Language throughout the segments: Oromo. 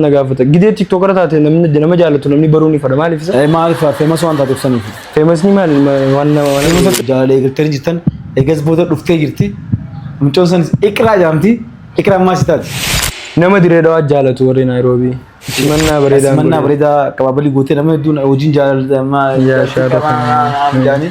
na gaafata. Gidee tiktokara taate namni nama jaallatu namni baruu ni fada maaliif isa? Eh, Maaliif feemas waan taateef saniif. Feemasni maal ma- waan nama waan nama fakkaatu? Jaalee galtanii jirtan eegas booda dhuftee jirti. Mucaan sanis iqraa jaamti. Iqraa maal si taati? Nama dirree dhawaa jaallatu warri Naayiroobii. Simannaa bareedaa. Simannaa bareedaa qabaabalii gootee nama hedduun hojiin jaalatamaa Yaa, shaarratan. jaanii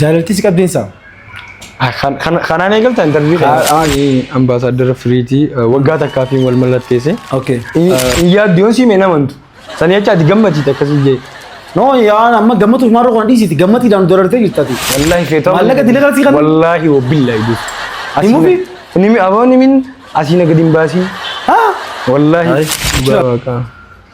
Jaalaltii si qabdeen saa? Kan- kan- Kanaan eegalta interview kana. Ani ambaasaaddara firiitii eh, waggaa takkaa fi wal mallatteesse. Okay. Hin yaaddu yoon siime hin amantu. Sani jecha ati gammatiiti akkasii jee. No yaan amma gammatuuf maarroo kana dhiisiti gammatiidhaan dorartee jirti ati. Wallaahi feetaa. Maallaqa dilaa galtii kana? Wallaahi wabbillahi jee. Hin mufi? Ni mi aboo ni min asii na gadi hin baasiin. Haa? Wallaahi. Dhugaa waaqaa.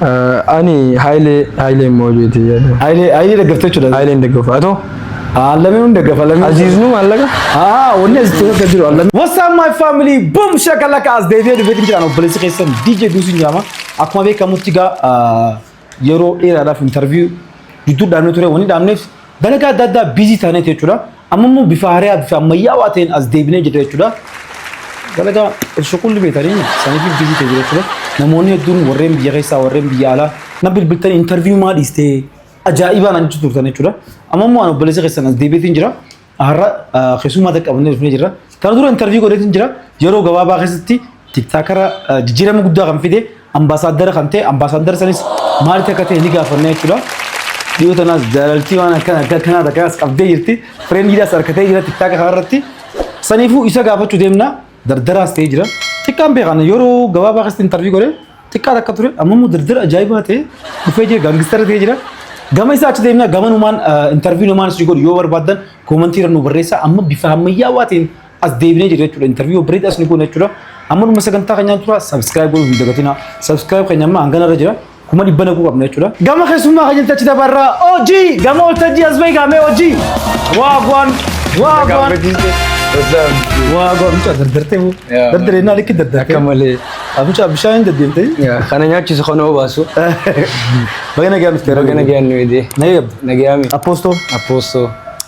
Ani Haayilee Haayilee immoo jeeti. Haayilee Haayilee deggertee jechuudha. Haayileen deggerfa. Atoo Allamee hundi deggerfa. Allamee. Aziiznu maallaqa. Haa wanni asitti bakka jiru Allamee. What's up my family? Boom shakalaka as deebi'ee dhufeetiin jiraan obboleessi keessan DJ Duusiin jedhama. Akkuma beekamutti egaa ah, yeroo dheeraadhaaf interview gidduu dhaabnee ture wanni dhaabneef dalagaa adda addaa biizii taaneeti jechuudha. Amma immoo bifa haaraa bifa ammayyaawaa ta'een as deebinee jirra jechuudha. Dalagaa osoo qulli beekanii saniif biyyii ta'e jira jechuudha. Namoonni hedduun warreen biyya keessaa warreen biyya alaa na bilbiltanii intarviiyuu maa dhiistee ajaa'ibaa naan jechuun turtan jechuudha. Amma immoo ani obboleessa keessan as deebiitiin jira. Har'a keessummaa takka qabannee dhufnee jirra. Kana dura intarviiyuu godheetiin jira. Yeroo gabaabaa keessatti tiktaakara jijjiirama guddaa kan fide Ambaasaaddara kan ta'e ambaasaaddara sanis maalitti akka ta'e ni gaafanna jechuudha. Dhiyoo tanaas jaalaltii waan akkana akka akkanaa takka as qabdee jirti. Fireendiidhaas harkatee jira tiktaaka kanarratti. Saniifuu isa gaafachuu deemna. Dardaraas ta'ee jira. Xiqqaan beekan yeroo gabaabaa keessatti intarvii godhe xiqqaa takka ture amma immoo dardara ajaa'ibaa ta'e dhufee jira gaangistara ta'ee jira. Gama isaa achi deemna gamanumaan intarvii namaan si godhu yoo barbaaddan koomantii irra nu barreessaa amma bifa ammayyaawaa ta'een as deebinee jirra jechuudha. Interviyuu obboleetti as ni goona jechuudha. Amma dhuma sagantaa keenyaan tura subscribe gochuu hin dagatina. Subscribe keenya amma hangana irra jira. Kuma dhibba naquu qabna jechuudha. Gama keessummaa kan jirtu achi dabarraa hojii gama waltajjii as bahi gaamee hojii. Waagwaan waagwaan waagwaan mucaa dardartee moo Yaa. dardaree naa likki dardartee. Akka malee. Mucaa bishaan hin daddeemtee. Kana nyaachisu kan obaasu. Baga nagaa nuuf Baga nagaan nu hidee. Nagaa qabdi. Nagayaami. Apostoo. Apostoo.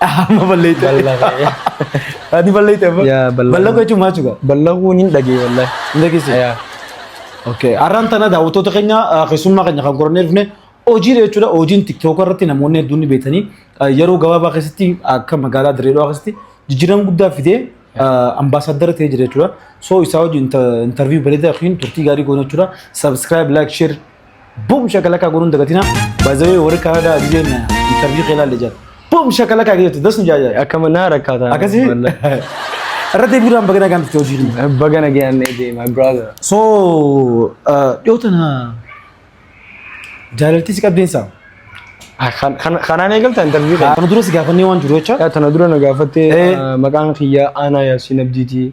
Amma balleeyte. Ballaqee. Ati balleeyte amma. Yaa, ballaqee. Ballaquu jechuun maal jechuudha? Ballaquun hin dhagee wallahi. Hin dhageesse? Yaa. Okay. Har'aan tana daawwattoota keenya eh, keessummaa keenya kan qorannee dhufne hojiidha jechuudha. Hojiin TikTok irratti namoonni hedduun ni beekanii eh, yeroo gabaabaa keessatti akka magaalaa Dirreedhaa keessatti jijjiirama guddaa fidee eh, ambaasaaddara ta'ee jira jechuudha. So isaa wajjin intarviiyuu bareedaa yookiin turtii gaarii goona jechuudha. Subscribe, like, share Boom shakalaka goruun dagatina. By the way warri Canada ajijeen interview kee ilaalle jira. Boom shakalaka geetu das nu jaaja. Akkama naa rakkaata. Akkasii irra deebiiraan bagana kan itti hojii kenna. Baga nagayaan eebee my brother. So dhiyoo tana jaalaltii si qabdeen saa. Kan- kan- Kanaan eegalta interview kana. Kana dura si gaafannee waan jiru jecha. Yaa tana dura na gaafattee Eh. ah, maqaan kiyya aanaa yaasiin abdiitii.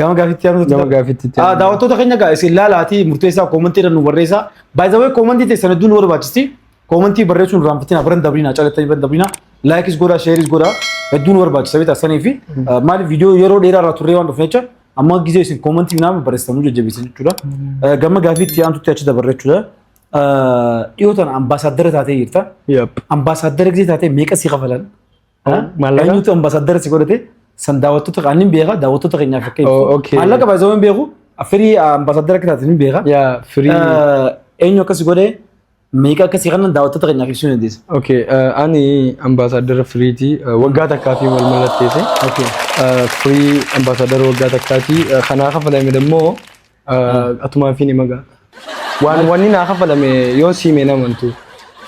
Gama gaafitti aanuutti Gama gaaffiitti itti Ah, aanuu. daawwattoota keenya egaa isin ilaalaatii murteessaa koomantii irra nu barreessaa. By the way koomantii teessan hedduu nu barbaachisti. Koomantii barreessuun nu raanfatina biran dabrinaa calattanii biran dabrinaa. Laayikis godhaa sheeris godhaa hedduu nu barbaachisa beektaa sanii fi ah, maaliif viidiyoo yeroo dheeraa irraa turree waan dhufne jecha amma gizee isin koomantii naama barreessan nu jajjabeessan jechuudha. Ah, Gama gaafiitti aantutti achi dabarre jechuudha. Ah, Dhiyoo tana ambaasaaddara taatee jirta. Yep. Ambaasaaddara gizee taatee meeqa si kafalan? Maallaqa? Eenyutu ambasaaddara si godhate san daawwattoota kan hin beeka daawwattoota keenyaaf akka Oh, okay. ibsu. Maallaqa baay'isoo hin beeku firii ambasaaddara akka taate hin beeka. Yaa firii. Eh, Eenyu akkasi godhe meeqa akkasii kanan daawwattoota keenyaaf ibsuu ni dandeessa. Okay, eh, ani ambaasaaddara firiiti eh, waggaa takkaafii wal mallatteesse. Okay. Eh, Firii ambaasaaddara waggaa takkaati. Eh, Kanaa kafalame immoo Atumaan fi ni magaa. Waan wanni naa kafalame yoo siime namantu.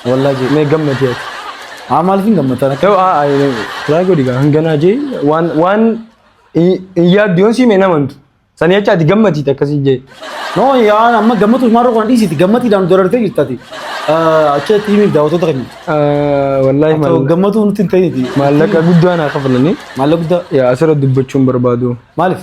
Wallah jee. Mee gammadee. Haa maaliif hin gammadan akka. Yoo aa laa godhi gaa hanganaa jee waan waan hin yaaddu yoo siime namantu. Sani jecha ati gammadiit akkasii jee. Noo yaa amma gammatuuf maarroo kana dhiisiti gammatiidhaan dorartee jirtati. Achirratti himiif daawwattoota keenya. Wallaahi Atoo maal- gammatuu nutti hin ta'initi. maallaqa guddaa naa kafalanii. Maallaqa guddaa Yaa asirra dubbachuun barbaadu. maaliif?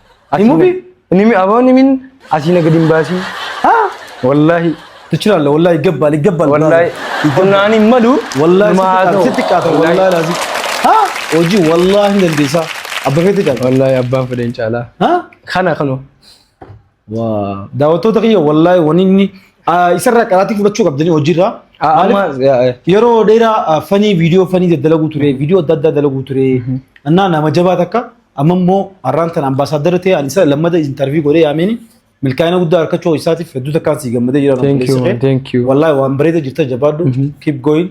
Ati Himuufi? na- nimi aboo nimin asii na gadi hin baasii. Haa? Wallaahi. Tichiraalle wallaahi gabbaal gabbaal. Wallaahi. Qonnaan hin malu. Wallaahi Numa haa ta'u. sitti qaata Wallaahi. wallaahi laazim. Haa? Hojii wallaahi hin dandeessaa. Abba feete qaata. Wallaahi abbaan fedheen caalaa. Haa? Kana kanoo. Waa. Daawwattoota kiyya wallaahi wani inni ah, isarraa qaraatii fudhachuu qabdanii hojiirraa. Amma Maaliif? yeroo dheeraa ah, fanii viidiyoo fanii dalaguu ture viidiyoo adda addaa dalaguu ture annaa nama jabaa takka Amma immoo har'aan tan ambaasaaddara ta'e ani isa lammada intarvii godhee yaameen milkaa'ina guddaa harkachuu isaatiif hedduu takkaan sii gammadee jira. Thank you, man. Thank you. Wallaahi waan bareeda jirta jabaadhu. Keep going.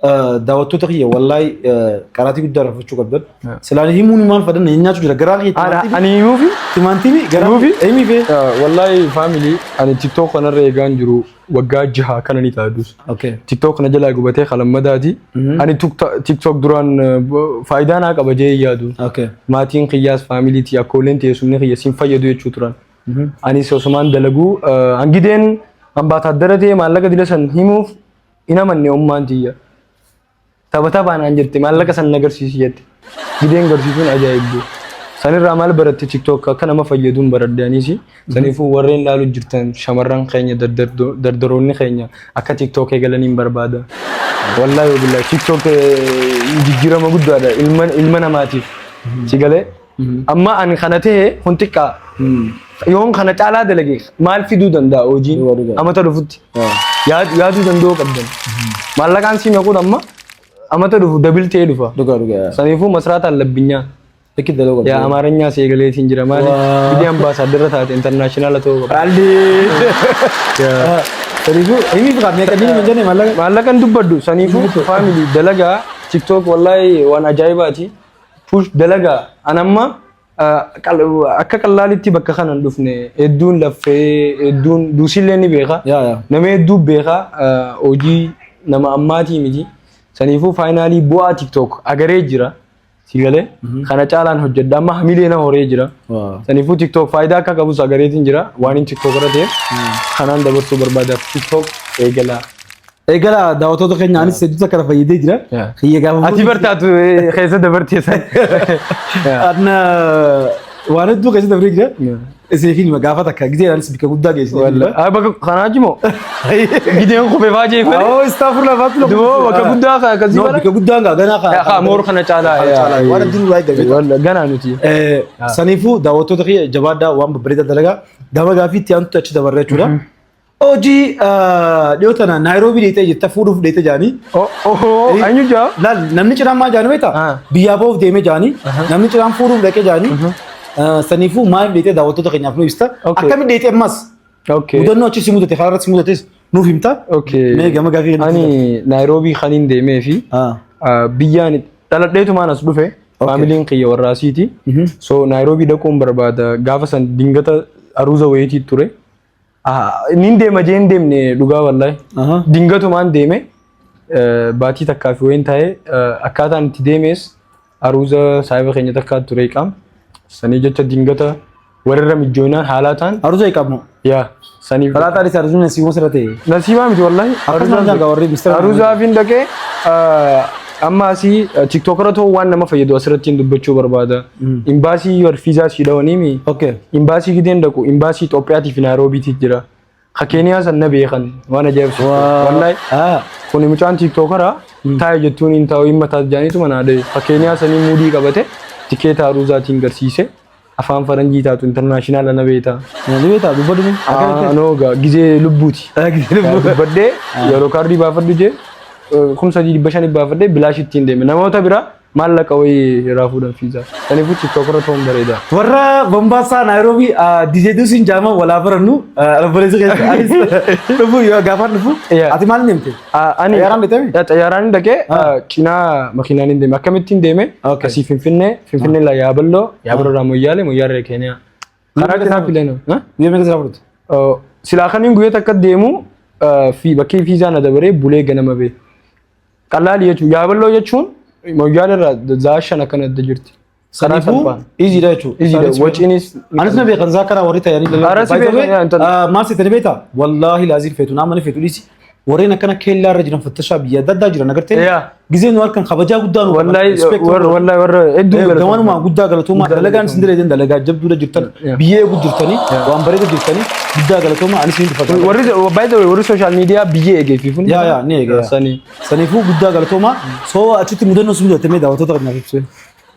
Uh, Daawwattoota kiyya wallaahi uh, qaraatii guddaa rafachuu qabdan. Yeah. Silaan himuun maal fadan hin nyaachuu jira garaa kiyya Ana- timaantiimi- Ani himuufi? timaantiimi garaa Himuufi? himi fee. Wallaahi faamilii ani tiktook kanarra eegaan jiru waggaa jaha kana ni ta'a dus. Okay. TikTok na jalaa gubatee kalammadaati. Mhm. Ani tukta- TikTok duraan eh, bo- faayidaa naa qaba jee hin yaadu. Okay. Maatiin kiyyaas faamilii tiyya akkooleen teessumni kiyya siin fayyadu jechuu turan. Mhm. Anis osumaan dalaguu eh, hangideen ambaataaddara ta'e maallaqa dila san himuuf hin amanne ummaan tiyya. Taphataa baanaan jirti maallaqa san nagarsiisi jette. Gideen garsiisuun ajaa'ibdu. Sanirraa maal baratte tiktok akka nama fayyaduun baradde aniisi. Saniifuu warreen laalu jirtan shamarran keenya dardardo- dardaroonni keenya akka tiktok eegalaniin barbaada. Wallaahi wabillahi tiktok eh, jijjiirama guddaadha ilma ilma namaatiif. Si galee? Amma ani kana ta'e kun xiqqaa. Yoon kana caalaa dalage maal fiduu danda'a hojiin Waa dhugaa. amata dhufutti. Yaad- Yaaduu danda'uu qabdan. Maallaqaan sii naquu amma amata dhufu dabil ta'ee dhufa. Dhugaa dhugaa. Saniifuu masraataan labbinyaa. Likki daloo qabdi. Yaa Amaaranyaa si eegaleetiin jira maali? Waa. Biyya ambaasaaddara taate intarnaashinaala ta'uu qaba. Raalli. Saniifuu himi fi qabnee qabiin hin jenne mallaqa. Maallaqan dubbaddu saniifuu faamilii dalagaa tiktook wallaahi waan ajaa'ibaati. push dalagaa an amma ah, qal- akka qallaalitti bakka kana hin dhufne hedduun laffee hedduun duusillee ni beeka Yaa, yaa. nama hedduu beeka ah, hojii nama ammaatii miti saniifuu faayinaalii bu'aa tiktok agaree jira si galee kana caalaan hojjedha amma hamilee na horee jira Waaw. saniifuu tiktok faayidaa akka qabus agareetiin jira waan hin tiktok irra ta'eef kanaan dabarsuu barbaadaaf tiktok eegalaa Eegala daawwattoota keenya anis hedduu takka fayyadee jira. Yeah. Kiyya gaafa Ati fuudhu- bartaatu eh, keessa dabartee san. Anna waan hedduu keessa dabree jira. Yeah. Isin filma gaafa takka gidee anis bika guddaa geessine. Wallah. Ah, bakka kanaa jimoo? Gideen kufee faa jeefan. Awoo istaafur lafaatu lafa. Duboo bakka guddaa kan akkasii No, bala. bika guddaa gaa ganaa kaa. Haa moor kana caalaa. Kana caalaa. Waan abdii nurraa eeggame. Wallah, Ganaa nuti. Eh, Saniifuu daawwattoota kiyya jabaadhaa waan babbareedaa dalagaa gama gaafiitti aantutti achi dabarra jechuudha. Hojii dhiyoo tana Naayiroobii deetee jirta fuudhuuf deetee jaanii. Ohoo anyu jaa. Laal namni ciraan maa jaanii beektaa? Ah. Biyyaa ba'uuf deemee jaanii. Namni ciraan fuudhuuf dhaqee jaanii. Saniifuu maaliif deetee daawwattoota keenyaaf nu ibsita. Okay. Akkamitti deetee ammas Okay. mudannoo achi si mudate kanarratti si mudates nuuf himta. Okay. Mee gama gaafii kennuuf jira. Ani Naayiroobii kaniin deemee fi Ah. ah, biyyaan dhaladheetumaan as dhufe faamiliin kiyya warra asiiti. So Naayiroobii dhaquun barbaada gaafa san dingata aruuza wayiitii ture. Nin deema jee hin deemne dhugaa wallahi. Aha. Dingatumaan deeme eh, baatii takkaa fi wayiin taa'ee eh, akkaataan itti deemes aruuza saahiba keenya takkaa ture qaam. Sanii jecha dingata warra mijjooynaan haalaa ta'an Aruza iqamu. yaa saniif. Fala tadi sarzu na siwo sirate. Nasiibaa miti wallahi. Akkasuma Aruzaa- jaaga warri mistara. Aruzaa fi dhaqee eh, amma asii tiktookara ta'uu waan nama fayyadu asirratti hin dubbachuu barbaada. Imbaasii yoo fiizaa sii dhawanii mi? Okay. Imbaasii gideen dhaqu imbaasii Itoophiyaatiif Naayiroobiitii jira. Ka Keeniyaa san na beekan waan ajaa'ibsu. Waa. Wallahi Ah. kuni mucaan tiiktookara taa'e jettuun hin taa'u himma taate jaaniitu manaa dhahe. Ka Keeniyaa sanii muudii qabate tikeeta haruuzaatiin garsiise afaan faranjii taatu intarnaashinaala na beeta. Ni beektaa dubba dubbi. Akkamitti? Anoo gaa gizee lubbuuti. Akkamitti? Yaa dubbadhee yeroo kaardii baafadhu jee eh, kum sadii dhibba shanii baafadhee bilaash ittiin deeme namoota biraa Maallaqa wayii irraa fuudhan fiizaa. Saniifuu TikTok irra ta'uun bareeda. Warra Bombaasaa Naayiroobii dijeeduusiin jaamaa walaa barannu obboleessa keessa anis dhufu yoo gaafaan dhufu Yeah. ati maal deemte? Ani Xayyaaraan bitame? xayyaaraan dhaqee cinaa makiinaan hin deeme. Akkamittiin deeme? Okay. Asii Finfinnee, Finfinnee laa Yaaballoo, Yaaballoo irraa Moyyaalee, Moyyaalee irraa Keeniyaa. Karaa cinaa filan. Biyya meeqa siraa fudhatu? Silaa kaniin guyyaa takka deemu fi bakkee fiizaa na dabaree bulee ganama bee. Qallaali jechuun yaaballoo jechuun moyyaan irraa zaa shan akkana adda jirti. Karaa Saniifuu salphaan. iziidha jechuudha. Iziidha, Isaanis- waciinis. Anis na beekan isaa karaa warri tajaajila lallaban. Aras By the beekan way, yaa intala. ah, maal seetanii beektaa? Wallaahi laaziin feetu nama ni feetu dhiisi. Warreen akkana keellaa irra jiran fattashaa biyya adda addaa jiran agartee Yaa. gizeen nu harkan kabajaa guddaa nu qaban. Wallaahi Respect warra nu qaban. wallaahi warra hedduu Eh, galatoomaa. Gamanuma guddaa galatoomaa Guddaa dalagaan galatoomaa. isin direedan dalagaa jabduudha jirtan Biyyee eeguu jirtanii waan bareeda jirtanii guddaa galatooma anis ni dhufa. Warri by the way warri social media biyyee eegeessifuun. Yaa yaa ni eegaa sanii. Saniifuu guddaa galatooma soo achitti mudannoo si mudate mee daawwattoota kan naaf ibsee.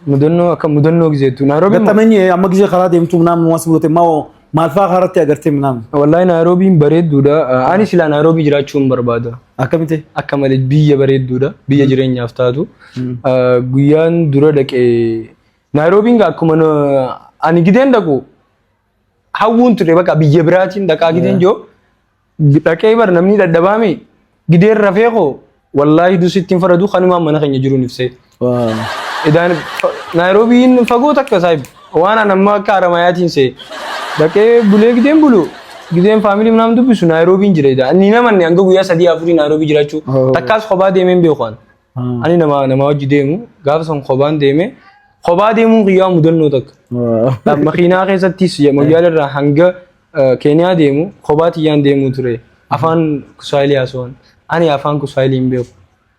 Mudannoo akka mudannoo gizeettu Naayiroobii. Gattamenyi amma gizee karaa deemtu naam waan si mudate maa maal fa'aa karaatti agartee naam. Wallahi Naayiroobiin bareedduudha. Ani silaa Naayiroobii jiraachuu hin barbaada. Akkamitti? Akka malee biyya bareedduudha. Biyya jireenyaaf taatu. Guyyaan dura dhaqee Naayiroobiin gaa akkuma nu- ani gideen dhaqu hawwuun ture bakka biyya biraatiin dhaqaa gideen jiru dhaqee bar namni dadhabaame gideen rafee koo wallaahi dusitti hin faradu kanumaan mana keenya jiruun ibsee. Waa. Idaan Naayiroobiin fagoo takka saayib waan an amma akka Haramaayatiin see dhaqee bulee gideen bulu gideen faamilii naam dubbisu Naayiroobiin jira idaan ni namanne hanga guyyaa sadii afurii Naayiroobii jiraachuu Oh. takkaas kophaa deemeen beeku an. Ani nama nama wajji deemu gaafa san kophaan deeme kophaa deemuun kiyyaa mudannoo takka. Dha- Makiinaa keessattis magaalaa irraa hanga eh, Keeniyaa deemu kophaa tiyyaan deemuu ture. Afaan kusaayilii haasawaan. Ani afaan kusaayilii hin beeku.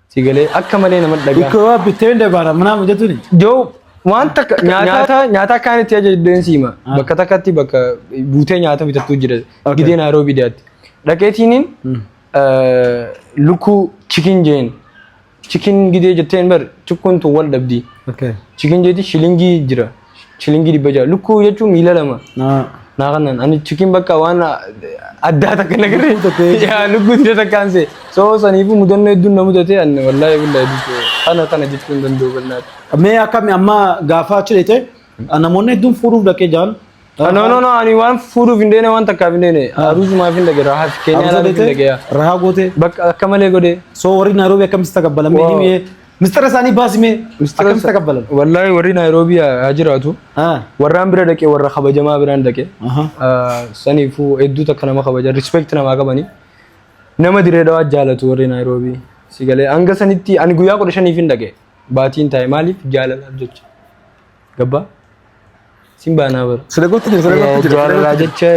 Si galee akka malee nama dhagaa. Ikkoo waa bittee hin dabaara manaa mijatuni. Joo waan takka nyaata nyaata akkaan itti ajajadheen siima. Bakka takkatti bakka buutee nyaata bitattuu jira. Okay. Gidee Naayiroobii dhiyaatti. Dhaqeetiiniin Lukkuu chikin jeen chikin gidee jetteen bar chukkuun tun wal dhabdi. Okay. Chikin jeeti shilingii jira shilingii dhibba ja'a lukkuu jechuun miila lama. Naa. Naa kanan ani chikin bakka waan addaa takka na garee Lukkuu tatee. yaa lukkuu tira takkaan see soo saniifuu mudannoo hedduun na mudatee ani wallaahi billaahi dubbee kana kana jechuu hin danda'u bal'aati. Mee akkami amma gaafaa achi dheete namoonni hedduun fuudhuuf dhaqee jaan No no no no ani waan fuudhuuf hin deene waan takkaaf hin deene aruuzumaaf hin dhage raahaaf keenya Aruuza alaaf hin dhage deetee yaa rahaa gootee bakka akka malee godhe soo warri Naayiroobii akkamitti takabbalan mee Wow. himee mistara isaanii baasi mee akkamitti takabbalan. wallaahi warri naayiroobii haa jiraatu Ah. warraan bira dhaqe warra kabajamaa biraan dhaqe Aha. Ah, saniifuu hedduu takka nama kabaja respect namaa qabani nama diree dhawaa jaalatu warri naayiroobii si galee hanga sanitti ani guyyaa kudha shaniif hin dhaqe baatiin taa'e maaliif jaalalaaf jecha gabbaa Sin baanaa bara. Sila gotti jira, sila gotti jira. Jaalalaa jecha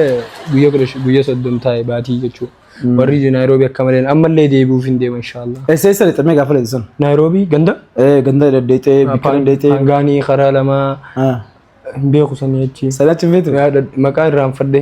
guyyaa kudha shan- guyyaa soddom taa'e baatii jechuudha. Warri ija Naayiroobii akka malee ammallee deebi'uuf hin deema inshaallah. Eessa eessa dhaqxe mee gaafa leetisan? Naayiroobii ganda Ee ganda dhadheexee bikka dhadheexee. hangaanii karaa lamaa Ah. hin beeku sanii achi. Sana achi hin beektu? Yaa dhad- Maqaa irraanfadhe.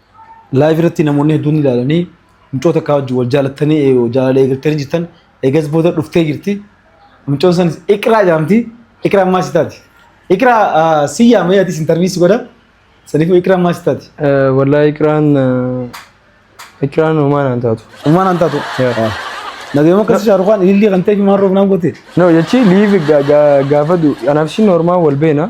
Live irratti namoonni hedduun ilaalanii mucoota akka wajjin wal jaalattanii jaalala eegaltanii jirtan eegas booda dhuftee jirti. Mucoon sanis iqraa jaamti. Iqraa ammaa si taati. Iqraa si yaamee ati isin tarbiisi godha. Saniifuu iqraa ammaa si taati. Wallaahi iqraan iqraan homaa naan taatu. Uumaan an taatu. Nageema akkasii shaarukaan ilillee kan ta'e fi maal roobnaan goote. No jechi liivi gaafadhu anaaf ishiin normaa wal beena.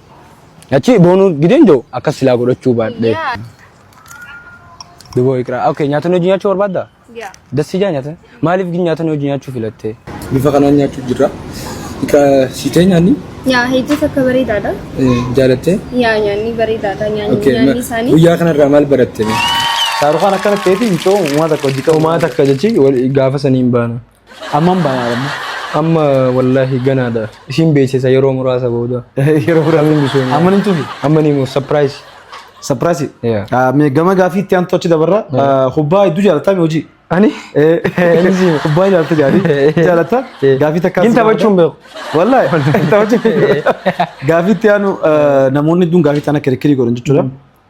Achi boonuu gideen jiru akkas silaa godhachuu baadhee. Duboo iqraa. Okay nyaatonni hojii nyaachuu barbaaddaa? Yaa. Dassi ijaa nyaatan. Maaliif gin nyaatonni hojii nyaachuu filattee? Bifa kanaan nyaachuu jirra. Iqraa siitee nyaanni Yaa hedduu takka bareedaadha. jaalattee. Yaa nyaanni bareedaadha. Nyaanni Okay, nyaanni ma- isaanii. Guyyaa kanarraa maal baratte? Shaarukaan akkana ta'eefi mucoo uumaa takka hojii qabu. Uumaa takka jechi wal- gaafa saniin baana. Amman banaa dhabne. Amma wallahi ganaadha. Isiin beeksisa yeroo muraasa booda. Yeroo muraasa. Amman bishoon. Amman hin tufi. Amma ni immoo surprise. Sapiraasi. Yeah. Mee gama gaafii itti aantu achi dabarra. Hubbaa hedduu jaalataa mi hojii? Ani? Innis hima. Hubbaa jaalata jaali. Jaalata? Gaafii takkaa. Gin taphachuun beeku. Wallahi. Taphachuun beeku. Gaafii itti aanu namoonni hedduun gaafii tana kirkirii godhan jechuudha.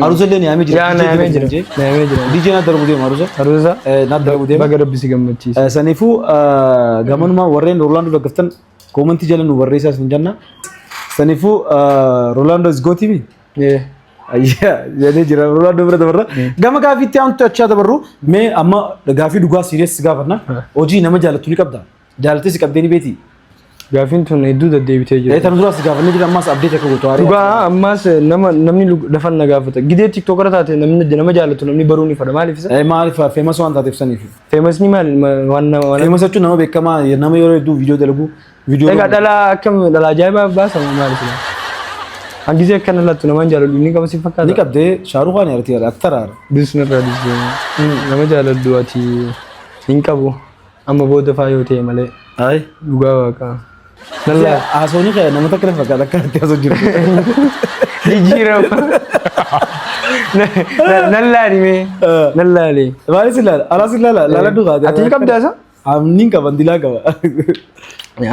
Aruza illee niyaamee jira. Yaa niyaamee jira. Niyaamee jira. DJ na darbu deema Aruza. Aruza. Na darbu deema. Baga rabbi si gammachiise. Saniifuu gamanumaa warreen Roolaandoo daggaftan koomantii jala nu barreessaa sun jenna. Saniifuu Roolaandoo is gootiimi. Ayyaa jedhee jira Roolaandoo bira dabarra. Gama gaafiitti aanutti achaa dabarru mee amma gaafii dhugaa siiriyees gaafanna. Hojii nama jaallattu ni qabda. Jaalatee si qabdee ni beetii? Gaafiin tun hedduu daddeebitee Ee jirti. tana duraa si gaafannee jira ammaas abdeet akka gootu haaree. Dhugaa ammaas nama namni lug- lafan na gaafata. Gidee tiktokara taate namni nama jaalatu namni baruu ni fedha maaliif isa? Ee maaliif feemas waan taateef saniif. Feemasni maali ma- waan nama waan. Feemas jechuun nama beekamaa nama yeroo hedduu viidiyoo dalagu viidiyoo. Egaa dhalaa akkam dhalaa ajaa'ibaa baasama maaliif isa? Hangisee akka na laattu namaan jaaladhu ni qaba si fakkaata. Ni qabdee shaaruu kaan yaadatti yaada aktaraara. Bismirraa disdee nama jaaladhu ati hin qabu. Amma booda faa yoo ta'e malee. Ayi. Dhugaa waaqaa. Nan laala. Haasooni kee nama takka na fakkaata akka itti haasoo jirtu. Jijjiirama. Nan laali mee. Nan laali. Maali si laala? Alaa si laala? Laala dhugaa. Ati hin qabdaa isa? Amni hin qaban dilaa qaba.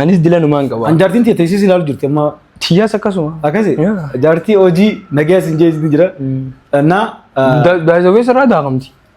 Anis dila numaan qaba. An jaartiin tee teessee si ilaalu jirti amma Tiyyaas akkasuma. akkasi. Yaa. Jaartii hojii nagaya sin jeesni jira. Naa Daa'imsa irraa daakamti.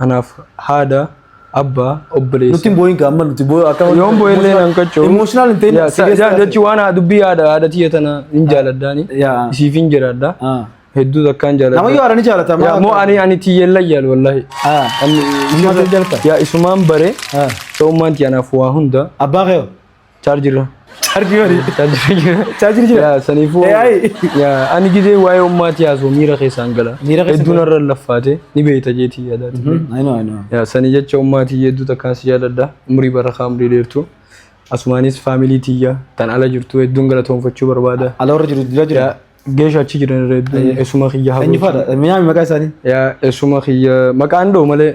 Anaaf haadha, abbaa, Nutti obboleessa. hin boo'in kaa amma nutti boo'u akka Yoon boo'ellee nan qachu. Emotional hin ta'in. serious Yaa ta'in. jechi waan haa dubbii haadha haadha tiyya tana hin jaaladhaani. Yaa. Isiif hin jiraadha. Ah. Hedduu takkaan jaaladha. Namayyuu haadha ni jaallata, maal Yaa moo akka- ani ani tiyyeen layyaal wallahi. Ah. Ani- Ummaata jaalata? Yaa isumaan bare. Ah. Ta'ummaan tiyya anaaf waa hunda. Abbaa kee hoo? Charge irra. Charge malee. Charge irra jira. Charge irra jira. Yaa saniifuu. AI. Yaa ani gizee waa'ee ummaatii haasoo miira keessaan gala. Miira keessa Hedduun gala. irra laffaate ni beeyta jeetii yaadaati. I know, I know. Yaa sani jecha ummaatii hedduu takkaan si jaaladha. Umrii barakaa umrii dheertu. Asumaanis faamilii tiyya tan ala jirtu hedduun galatoomfachuu barbaada. Ala warra jiru dura jira. Yaa geesha achi jiran irra hedduun Ayyee. esuma kiyya Eenyu haguutu. faadha? Miyaami maqaa isaanii? Yaa esuma kiyya maqaan dhoo malee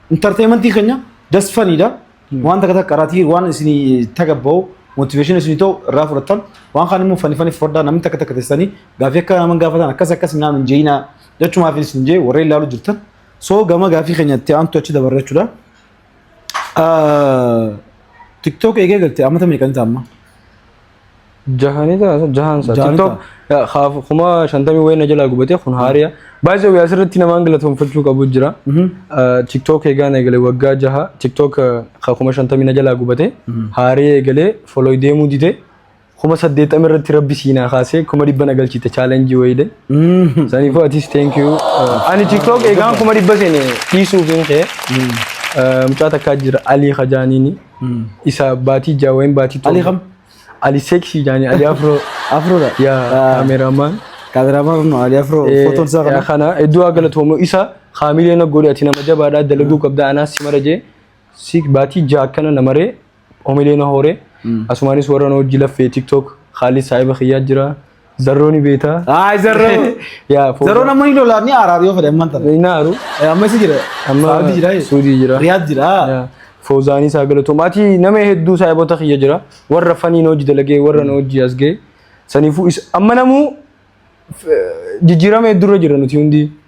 Intarteemantii keenya dasfaniidha. Waan takka takka irraatii waan isinii tagabba'u motiveeshinii isinii ta'u irraa fudhattan waan kaan immoo fani fani fudhadhaa namni takka takka teessanii gaafii akka nama gaafatan akkas akkas naan hin jeeyinaa jechumaaf isin jee warreen ilaalu jirtan soo gama gaafii keenya itti aantu achi dabarra jechuudha. TikTok eegee galte ammata meeqan ta'a amma? Jahani ta'a jahan sa. Jahani TikTok ya, haaf kuma shantamii wayii na jalaa gubatee kun haariya. Baay'ee wayii asirratti namaan galatoomfachuu qabu jira. Eh, TikTok eegaan eegale waggaa jaha TikTok eh, ka kuma shantamii na jalaa gubatee haaree eegalee follow deemuu didee kuma saddeettama irratti rabbi siinaa kaasee kuma dhibba na galchite challenge wayiilee. Saniifuu atis thank you. Eh, Ani TikTok eegaan kuma dhibba seene dhiisuuf hin kee. Eh, Mucaa takkaa jira Alii Kajaaniini. Isa baatii ja'a wayin baatii torba. Ali kam? Ali seeksii jaani Ali afroo. Afroodha. Yaa kaameramaan. Kaameramaan kun Ali afroo footoon isaa kana. Kana hedduu haa galatoomu isa haamilee na godhe ati nama jabaadha dalaguu qabda anaas si mara jee si baatii ja'a akkana na maree homilee na hooree asumaanis warra na hojii laffee tiktok haalli saahiba kiyyaa jira Zarroo ni beektaa? Aay zarroo. Yaa foodaa. Zaroo nama ni lolaa ni aaraa yoo fedhe amman tana. Hin aaru. Amma si jira. Amma Saudi jira. eh. Suudii jira. Riyaad jira. Yaa, Foozaanii isaa galatoom. Ati nama hedduu saayibota kiyya jira. Warra faniin hojii dalagee, warra na hojii as ga'e. Saniifuu is- amma namuu f- jijjiirama heddurra jira nuti hundi.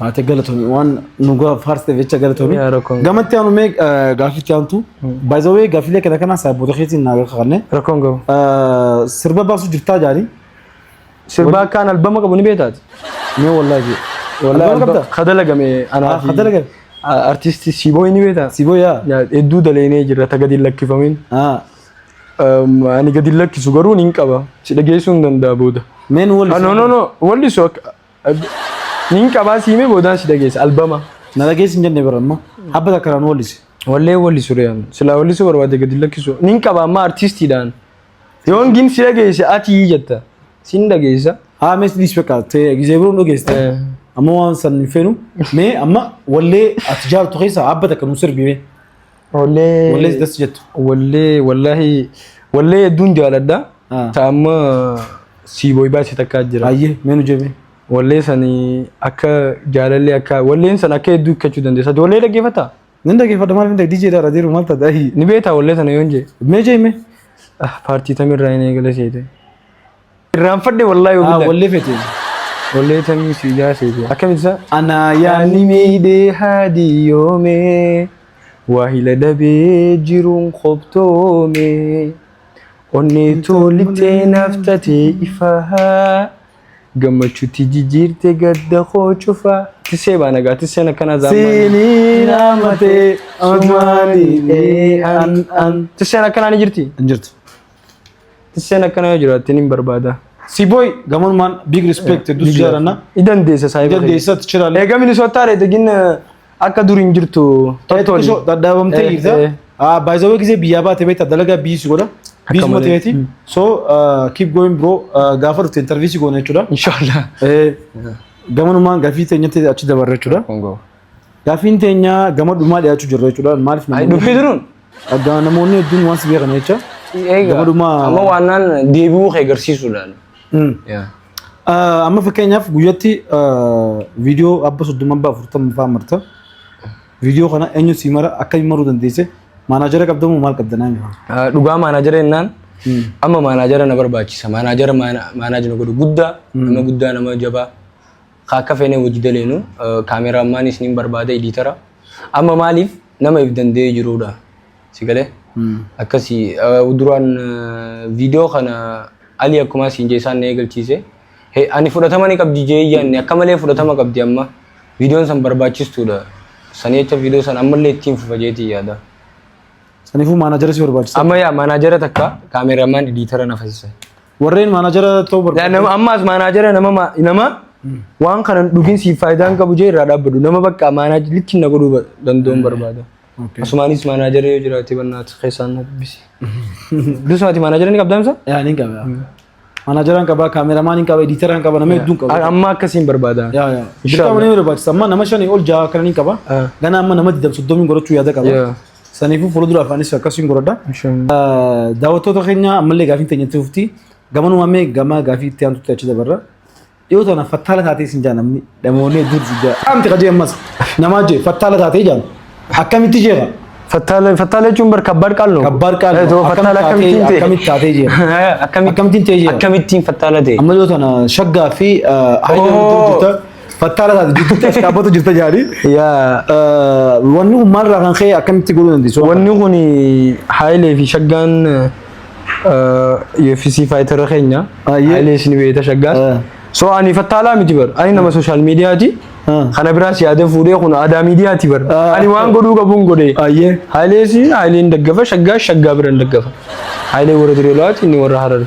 Haate galatomi waan nu faarste jecha galatomi. Yaa rakkoon. Gamatti aanu mee eh, gaaffitti aantu. By the way gaaffilee kana kana saayibboota keetiin naa kakkanne. Rakkoon gahu. Eh, Sirba baasuu jirtaa jaanii? Sirbaa akkaan albama qabu ni beektaati. Mee wallaahi. Wallahi Albama qabda? ka dalagame anaa Ah, fi ka dalagame. a- artisti Siibooy ni beektaa? Siboo yaa. Yaa, Hedduu daleenee jirra ta gadi hin lakkifamin. Ah. Um, Ani gadi hin lakkisu garuu ni hin qaba. Si dhageessuu hin danda'a booda. Mee nu Ah, No no wallisu. no wallisu akka Nin qabaa siimee boodaan si dhageessa albama. Na dhageessi hin jenne bara amma. Abba takka irraa nu wallise. Wallee wallisu riyaan. Silaa wallisuu barbaade gadi lakkisu. Nin qaba amma artistiidhaan. Yoon gin si dhageesse ati jetta. Sin dhageessa. Haa mees dhiis beekaa ta'e gizee biroon dhageesse. Eh. Amma waan san hin feenu. Mee amma wallee ati jaaltu keessa abba takka nu sirbi mee. Wallee Wallees das jettu. Wallee wallaahi wallee hedduun jaaladha. Ah. Ta amma sii booy baasii takkaa jira. Ayyee mee nu jebee. Wallee sanii akka jaalallee akka walleen san akka hedduu hiikkachuu dandeessa. Ati wallee dhaggeeffatta? Nan dhaggeeffadha maal miti DJ dha radeeru maal taate ayi. Ni beektaa wallee sana yoon jee? Mee jee mee. Ah, Paartii tamirraa hin eegale seete. Irraanfadhe wallaahi Ah, wabillahi. wallee fete. Wallee tamii sii gaaseeti. Akkamitti isaa? Anaa yaanni miidhee haadii yoomee. Waahila dhabee jiruun qobtoomee. Onnee tolitee naaf tatee ifaa. Gammachuutti jijjiirte gadda koo cufaa. Tissee baa nagaa tisseen akkanaa zaammaa. Siinii naamatee sumaanii ee an an. Tisseen akkanaa ni jirti? Hin jirtu. Tisseen akkana yoo jiraatte nin barbaada. Siboy gamonumaan big respect hedduu si jaalanna. Ni dandeessa saayiba. Dandeessa tichiraalee. Eega Minnesota reete gin akka dur hin jirtu Toltoli. toltoli. Dadhabamtee Eh, jirta. eh. Ah, by the way gisee biyyaa baate beekta dalagaa biyyi si godha. Biyyi Akka suma malee. ta'eeti. Mm. So ah, keep going bro Ah, gaafa dhufte interview si goona jechuudha. Inshallah. Eh, Gamanumaan gafii teenyatti achi dabarra jechuudha. Kongo. Gafiin teenya gama dhumaa dhiyaachuu jirra jechuudha. Maaliif Ay, namni- dhufee jiruun? Adda namoonni hedduun waan si beekan jecha. Eegaa Gamadhumaa- amma waannaan deebi'uu kee agarsiisuudhaan. Mm. Yaa. Ah, Amma fakkeenyaaf guyyatti ah, viidiyoo abba soddoma abba afurtama fa'aa marta. Viidiyoo kana eenyu si mara akka hin maruu dandeesse maanaajara qabda moo maal qabda naami? Ah, Dhugaa maanaajara jennaan amma maanaajara na barbaachisa. Maanaajara maana- maanaajara godhu guddaa nama guddaa nama jabaa. Ka akka feenee wajji daleenu camera man isnin barbaada editara amma maaliif nama if danda'ee jiruudha si galee akkasi duraan video kana ali akkumaa siin jee isaan na eegalchiise he ani fudhatama ni qabdi jee yaanne akka malee fudhatama qabdi amma videon san barbaachistuudha sanii acha video san ammallee ittiin fufa jeetii yaada Saniifuu maanajara si barbaachisa. amma yaa maanaajara takka camera man editara na fasisa Warreen maanajara ta'uu Yaa barbaadu. nama ammaas maanaajara nama ma- nama waan kanan dhugin siif faayidaan qabu jee irraa dhaabbadhu nama bakka maanaaj likki na godhuu ba- danda'uun barbaada. Okay. Asumaanis maanaajara yoo jiraate bannaati keessaan na dubbisi. Dusumaati maanaajara ni qabdaa misa? Yaa ni qaba. Maanajaraan qaba, kaameramaan ni qaba, ediitaraan qaba, nama hedduun qaba. Amma akkasiin barbaada. Yaa yaa. Inshallah. Dirqama ni barbaachisa. Amma nama shanii ol ja'a kana ni qaba. Ah. Gana amma nama digdam soddomiin godhachuu yaada qaba. Yaa. Saniifuu fuulduraaf anis akkasiin godhadha. Daawwattoota keenya ammallee gaafiin teenya itti fufti. Gamanuma mee gama gaafii itti aantutti achi dabarra. Dhiyoo tana fattaala taatee sin jaa namni dhamoonee dur sin jaa. Qaamti qajee ammas namaa jee fattaala taatee jaan akkamitti jeeqa? Fattaala fattaala jechuun bar kabbaad qaal noo. Kabbaad qaal noo. Eh, too Fattaala Akkamitti akkamittiin ta'e? akkamitti taatee jee? Akkamittiin Akkamittiin ta'e jee? akkamittiin fattaala ta'e? Amma dhiyoo tana shaggaa fi hayyuu Oh. jirta. Fattaala taate jirtutti as dhaabbatu jirta jaari. Yaa Wanni kun maalirraa kan ka'e akkamitti godhuu dandeessu? wanni kun haayilee fi shaggaan UFC faayitara keenya Ayyee. haayilee isin beeyta shaggaas. Ah. So ani fattaalaa miti bar ani nama sooshaal miidiyaati. Ah. Kana biraas yaada fuudhee kun aadaa miidiyaati bar. Ah. Ani waan godhuu qabuun godhee. Ayyee. Haayilee si haayileen daggafa shaggaa shaggaa biraan daggafa. Haayilee warra diree laati inni warra harare.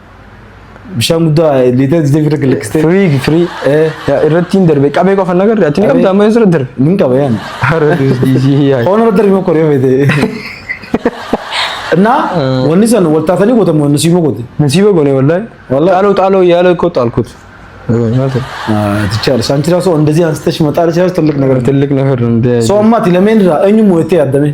Bishaan guddaa liitira digdamii irra galaksitee. Firii firii Eh. Ya, irratti hin darbe qabee qofa na garre ati ni qabda amma eessarra darbe. Nin qaba yaani. Har'a dhiisii yaa. Hoon irra darbe koree beete. Naa wanni san wal taatanii gootamu wanni siima goote. Nasiiba goone wallahi. Wallahi. Xaaloo xaaloo yaaloo koo xaalkuut. Maal ta'e? Tichaar isaan jiraatu ondezii ansistesh mataara jiraatu tollik nagar. Tillik na firrumtee. So ammaati lameen irraa eenyu moo'ettee yaaddame.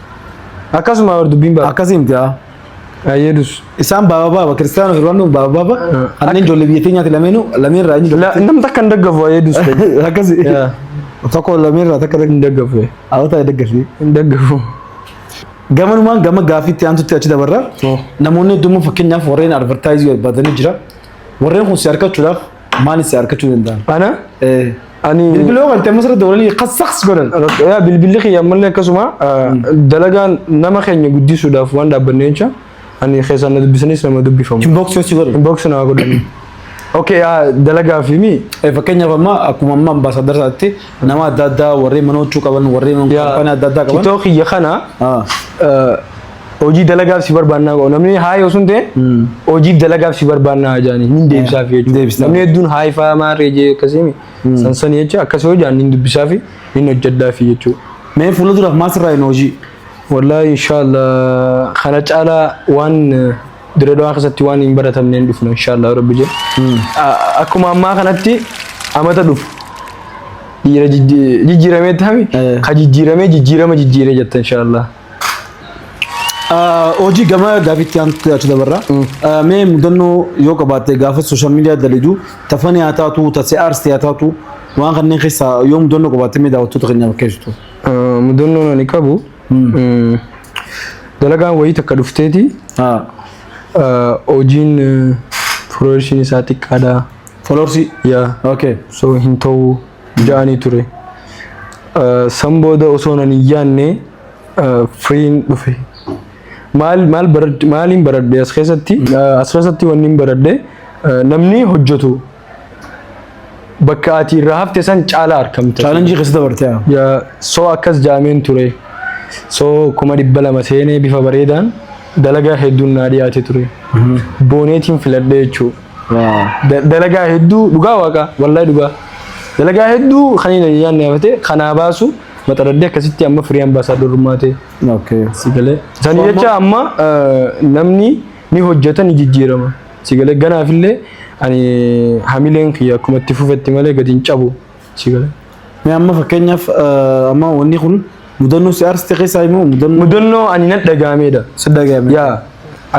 Akkasuma bar dubbiin baaba. Akkasii miti haa. Ayyeedus. Isaan baaba baaba kiristaanota duraan nu baaba baaba. Ah. Kanneen ijoollee biyya keenyaati lameenuu lameen irraa inni tokko. Nam takka hin daggafu ayyeedus. Akkasii. Yaa. Tokko lameen irraa takka Hin daggafu. hawwataa hin daggafi. Hin daggafu. Gamanumaan gama gaaffiitti aantutti achi dabarra. Oh. Namoonni hedduun fakkeenyaaf warreen advertaayizii barbaadanii jira. Warreen kun si argachuudhaaf Maal itti harkachuu danda'an? Ana Eh, ani Bilbiloo kan ta'e masirra dawalanii kassaks godhan. yaa bilbilli kiyya ammallee akkasuma ah, dalagaan nama keenya guddisuudhaaf waan dhaabbanne jecha ani keessaan na dubbisanis nama dubbifamu. Inbox sochii godhan. Inbox na godhani. Okay, ah, dalagaa fi mi Eh, Fakkeenyaaf amma akkuma amma ambaasaaddar isaatti nama adda addaa warreen mana hojjuu qaban warreen Yaa, kaampaanii adda addaa qaban. kitoo kiyya kana Ah. ah, hojii dalagaaf si barbaannaa qabu. Namni haay osoo hin ta'in hojiif dalagaaf si barbaannaa jedhanii hin deebisaaf jechuudha. Deebisna. Namni hedduun haay fa'aa maarree jee akkasii mi? Sansanii jecha akkasii hojii ani hin dubbisaaf hin hojjedhaaf jechuudha. Mee fuula duraaf maal sirraa hin hojii? Wallaahi inshaallah kana caalaa waan eh, Dirreedawaa keessatti waan hin baratamne hin dhufna inshaallah rabbi jee. A- Akkuma ammaa kanatti amata dhufu. Dhiira jijji- jijjiiramee taami. Eh. Ka jijjiiramee jijjiirama jijjiiree jetta inshaallah. Hojii gama gaafiitti aanutti achi dabarra. Mee mudannoo yoo qabaatte gaafa sooshaal miidiyaa dalagu tafani haa taatu tasee aarsti haa taatu waan kanneen keessaa yoo mudannoo qabaatte mee daawwattoota keenyaaf akka ibsitu. Mudannoon ani qabu dalagaan wayii takka dhufteeti hojiin firoorshiin isaa xiqqaadha. Foloorsii. Yaa. Okay. So hin ta'u. ja'anii ture. Eh, San booda osoo nan hin yaanne eh, firiin dhufe. Maal maal baradhe maaliin baradhe as keessatti eh, as keessatti wanni hin baradhe eh, namni hojjetu bakka ati irraa hafte san caalaa arkamta. Chaalenjii keessa dabartee haa. Ya, so akkas jaameen ture. So kuma dhibba lama seenee bifa bareedaan dalagaa hedduun naa dhiyaate ture. Booneetiin filadhee jechuudha. Waa. Da- dalagaa hedduu dhugaa waaqa wallahi dhugaa dalagaa hedduu kan hin ayyaanne hafate kanaa baasu maxaraddee akkasitti amma firii ambaasaaddorummaa ta'e Okay. si galee sani jecha amma eh, namni ni hojjeta ni jijjiirama si galee ganaafillee ani hamileen kiyya akkuma itti fufetti malee gadi hin cabu Si gale. Mee amma fakkeenyaaf eh, amma wanni kun mudannoo si aarsite keessaa immoo mudannoo Mudannoo ani nan dhagaameedha. si dhaga'ame. Yaa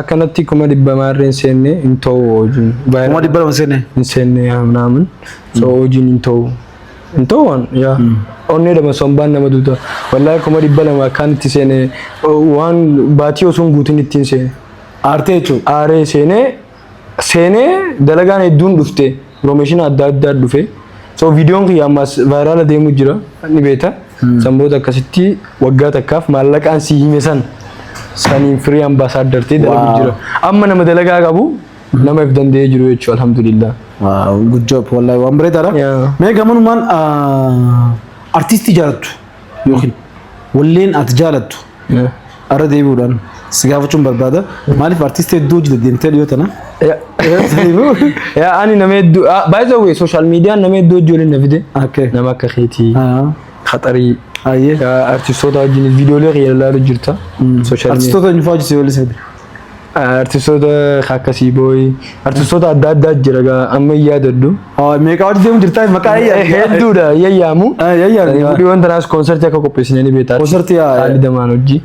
akkanatti kuma dhibba maarree hin seenne hin ta'u hojiin. Kuma dhibba lama seene. hin seenne yaa naaman. So hojiin hin ta'u. Hin ta'u waan yaa. Onnee dama sombaan nama duuta. Wallaahi kuma dhibba lama akkaan itti seene waan baatii osoo hin guutin ittiin seene. Aartee jechuudha. Aaree seenee seenee dalagaan hedduun dhufte piroomeeshina adda addaa dhufe so viidiyoon kiyya ammaas vaayiraala deemuu jira ni beeta san booda akkasitti waggaa takkaaf maallaqaan si hime san saniin firii ambaasaaddar ta'e dalaguu Wow. jira amma nama dalagaa qabu nama if danda'ee jiru jechuudha alhamdulillah. Waaw, good job wallahi waan bareedaadha. Yeah. Mee gamanumaan ah, artistii jaalattu. yookiin walleen ati jaalattu irra deebi'uudhaan si gaafachuun barbaada. Maaliif artistii hedduu hojii deddeemtee dhiyoo tana? Yaa ani nama hedduu by the way social media nama hedduu hojii waliin na fide Okay. nama akka keetii Ah, haxarii Ayyee. artistoota wajjin viidiyoolee kiyya ilaalaa jirta. Social media. Artistoota eenyufaa hojii si waliin si fide? Artistoota akka Siiboy, artistoota adda addaa jira gaa amma hin yaadadhu. Meeqaa walitti deemu jirtaa maqaa eeyyaa. Hedduudha yayyaamu. Yayyaamu. Hudhii wanta naas koonsartii akka qopheessine ni beektaa. Koonsartii haa. Haalli damaan hojii.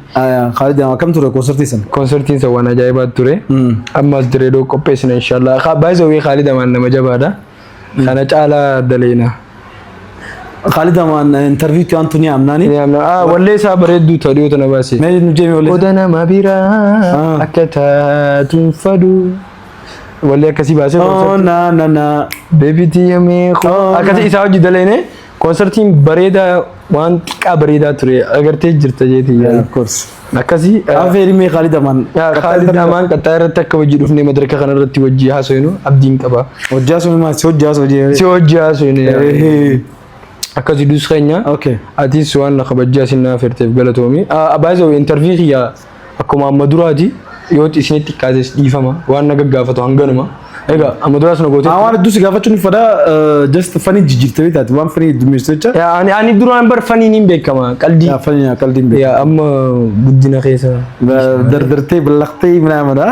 Kaalid Damaa akkam ture koonsartii sana? Koonsartiin isa waan ajaa'ibaa ture. Ammaas direedoo qopheessina inshaallah. Baay'ee haalli damaan nama jabaadha. Kana caalaa daleena. Kaalid amaan intarviitti waan tuni amnaani. Wallee isaa bareedduu ta'u dhiyoo tana baasee. Mee nu jeemee wallee. Oda nama biraa akka taatuun fadu. Wallee akkasii baasee. Oh na na na. Beebitii yamee koo. Akkasii isaa hojii daleene. Konsertiin bareedaa waan xiqqaa bareedaa ture agartee jirta jeetii yaada. Of course. Akkasii eh, Afeerii mee Khalid Aman. yaa Khalid Amaan qaxxaa irratti akka hojii dhufnee madaraka kana irratti hojii haasofnu abdiin qaba. Hojjaa sun maal si hojjaa soo jee. Si hojii haasofne Eh, akkasii dus keenya. Okay. Atis waan na kabajjaa sin na afeerteef galatoomi. Baay'ee intervii kiyya Akkuma amma duraati yoo isinitti xiqqaates dhiifama waan na gaggaafatu hanganuma. Egaa amma duraas na gootee. Haa waan hedduu si gaafachuun uffata just fanii jijjiirtee taate waan fanii heddumeessite jecha. Yaa, Ani ani duraan bar faniin hin beekama qaldii. Yaa fanii yaa qaldiin beeku. Yaa amma guddina keessa. Dardartee ballaqtee minaa manaa.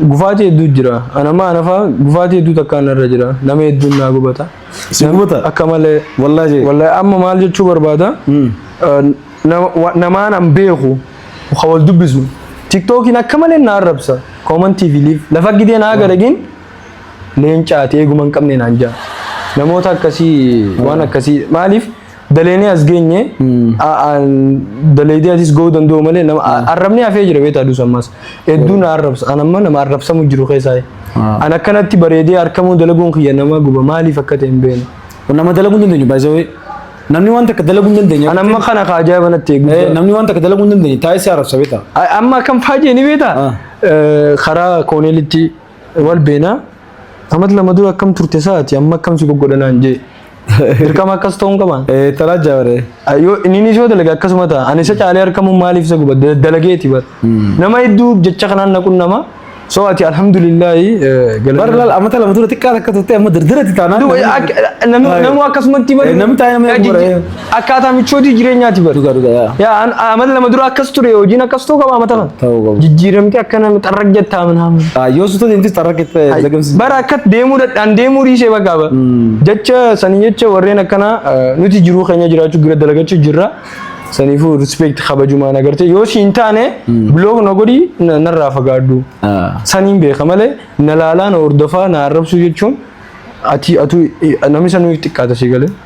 Gufaatii hedduu jira. Anama anafa gufaatii hedduu takka anarra jira. Nama hedduun naa gubata. Si gubata? Akka malee. Wallahi jee. Wallahi amma maal jechuu barbaada? Namaan an beeku ka wal dubbisnu tiktookiin akka malee na arrabsa. Koomantii fi liif lafa gidee naa gadagin leencaati eeguma hin qabne naan ja'a. Namoota akkasii waan akkasii maaliif? Daleenee as geenye daleedee atis gahuu danda'u malee nama arrabni hafee jira beektaa duusa ammaas hedduu na arrabsa an amma nama arrabsamu jiru keessaa an akkanatti bareedee harkamuu dalaguun kiyya nama guba maaliif akka ta'e hin beekne. Nama dalaguu hin dandeenyu baay'isawee namni waan takka dalaguu hin dandeenye An amma kana ka ajaa'iba natti eegu. Eh, namni waan takka dalaguu hin dandeenye taa'ee si arrabsa beektaa. Amma kan faajee ni beektaa? Ah. Eh, Karaa kooneelitti Wal beena amat lama dura akkam turte saati amma akkam si goggodha naan jee. Dirqama akkas ta'uu hin qabaan. Eh, Talaa jaaware. Yoo inni yoo dalage akkasuma ta'a. Ani isa caalee harkamu maaliif isa guba Da- dalageeti bar. Nama hedduu jecha kanaan naqun nama. So ati alhamdulillaahi eh, Bar galatoomi. laal amata lama dura xiqqaa takka turte amma dirdirati taanaan. Duuba, ak- nam- namuu akkasumatti bar. Eh, namni taa'ee nama Jijji- eeguu bara, eh. Akkaataa michootii jireenyaati bari. Dhugaa dhugaa yaa. Yaa an- amala lama dura akkas ture hojiin akkas ta'uu qaba amata kana. Ta'uu qabu. Jijjiiramtee akka nama xarraq jettaa manaa. Ah, Yoo suuta deemtis xarra kette zagamsiisa. Bara akka deemuu dadhaan deemuu dhiisee bakka ba. Jecha sanii jecha warreen akkanaa eh, nuti jiruu keenya jiraachuu gara dalagachuu jirra. Saniifuu respect kabajumaan agartee yoo si hin taane block na godhi na- narraa fagaadhu. Ah. Saniin beeka malee na laalaa na hordofaa na arrabsuu jechuun ati atu namni sanuu xiqqaata si galee.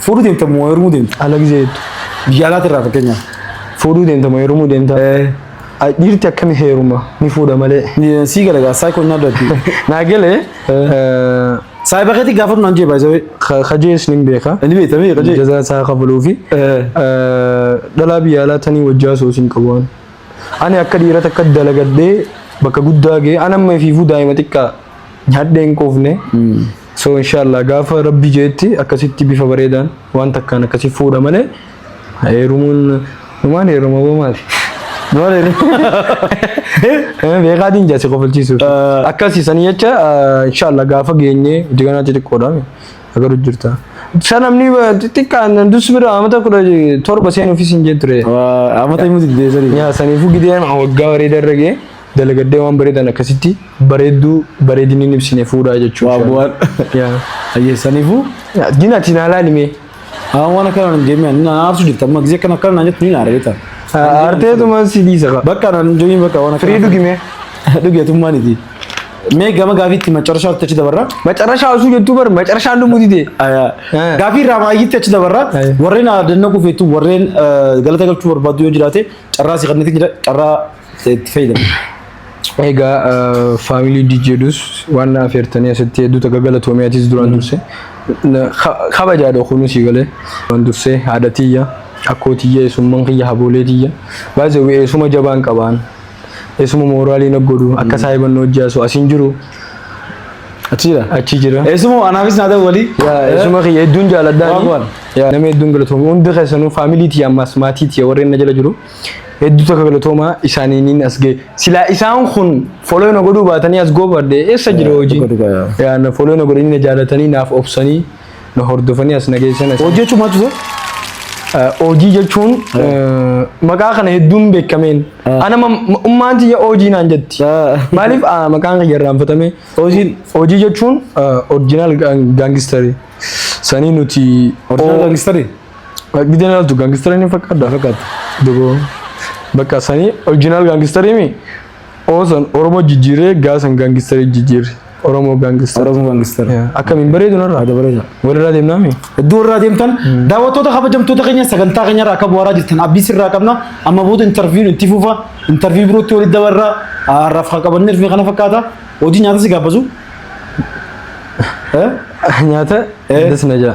Fuudhuu deemta moo heerumuu deemta? Haala gizee hedduu. Biyya alaati irraa fakkeenyaaf. Fuudhuu deemta moo heerumuu deemta? Eh, Dhiirti akkami heeruma ni fuudha malee. eh, Sii gala gaa saayikoo nyaadhu ati. Naa galee. eh, Saayiba keetii gaafatu naan jee baay'isawee. ka- Kajees ni beeka. Ni beekta beekta jee. Jazaa isaa kafaluu fi Eh, eh, dhalaa biyya alaa tanii wajjaa soos hin qabu waan. Ani akka dhiira takka dalagadhee bakka guddaa ga'e an amma ifiifuu daa'ima xiqqaa nyaadhee hin quufne. So inshallah gaafa rabbii jeetti akkasitti bifa bareedaan waan takkaan akkasi fuudha malee heerumuun numaan heeruma boo maali? Numaan heeruma beekaa diin jaase kofalchiisuuf. Akkasi sanii jecha inshallah gaafa geenyee itti ganaa xixiqqoodha agaruu jirta. Isa namni xixiqqaan dus bira amata kudha torba seenuufis hin jee ture. Amata himuti deesanii. Yaa saniifuu gideen waggaa bareeda irra ga'e. dalagadhee waan bareedan akkasitti bareedduu bareedinni hin ibsine fuudhaa jechuudha. Waa bu'aan. Yaa. Hayyeessaniifuu. Yaa, Diin ati naa laali mee. Haa waan akkana hin deemne ani naan aarsu jirta amma gisee akkana akkana naan jettu ni naara jeeta. Arteetuma si dhiisa ka. Bakka naan hin deemin bakka waan akkana. Firii dhugi mee. Dhugi atummaan iti. Mee gama gaafiitti macarashaa itti achi dabarra. Macarashaa osoo jettuu bar macarashaan dhumuu dide. Ayaa. Eh. Gaafii irraa maayyiitti achi dabarra. Eh. Warreen aadannoo kufeetu warreen eh, galata galchuu barbaaddu yoo jiraate carraa si kannatti jira carraa itti fayyadamu. Egaa faamilii dijeedus waan na afeertanii asitti hedduu takka galatoomee atis duraan dursee Na- ka- kabajaadha kunuu sii galee duraan dursee haadha tiyya akkoo tiyya eesumman kiyya haboolee tiyya baay'ee eesuma jabaan qabaan eesuma mooraalii na godhu akka saahiban na hojjaasu asiin jiru Achi jira. achi jira. Eessumoo anaafis naa ta'u walii. Yaa eesuma kiyya hedduun jaaladha. Waan waan. Yaa nama hedduun galatoomee hundi keessanuu faamilii tiyya ammaas maatii tiyya warreen na jala jiru. Hedduu takka galatoomaa isaaniiniin as ga'e. Silaa isaan kun foloo na godhuu baatanii as goobadde eessa jira hojii? dhuga, dhuga. Yaa na foloo na godhanii na jaalatanii naaf obsanii na hordofanii as na geessan. as- Hojii jechuun maaltu ta'e? Eh, Hojii jechuun eh, maqaa kana hedduun beekameen. Ah. Ana ma- ma- ummaan tiyya hojii naan jetti. Ah. Maaliif ah, maqaan kiyya irraanfatame? Hojiin Hojii jechuun orjinaal gaangistarii. Sanii nuti Original gangster. Gideen altu gaangistara inni fakkaadda fakkaata. Dogoo. Bakka sanii orjinaal gaangistarii mi? Oosan Oromoo jijjiirree gaasan gaangistarii jijjiirre. Oromoo gaangistara. Oromoo gaangistara. Akkamiin bareedu narraa? Adda bareeda. Walirraa deemnaa mi? Iddoo irraa deemtan daawwattoota kabajamtoota keenya sagantaa keenya irraa akka bu'aaraa jirtan abdii sirraa qabna. Amma booda intarviiyuun itti fufa. Intarviiyuu birootti walitti dabarraa har'aaf kan qabannee dhufne kana fakkaata. Hojii nyaata si gaabbasu. Nyaata dasna jaa.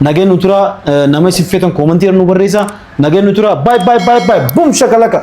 Nageen nu tura nama isin feetan koomantii irra nu barreessa. Nageen nu tura. Bye bye bye bye. Bum shakalaka.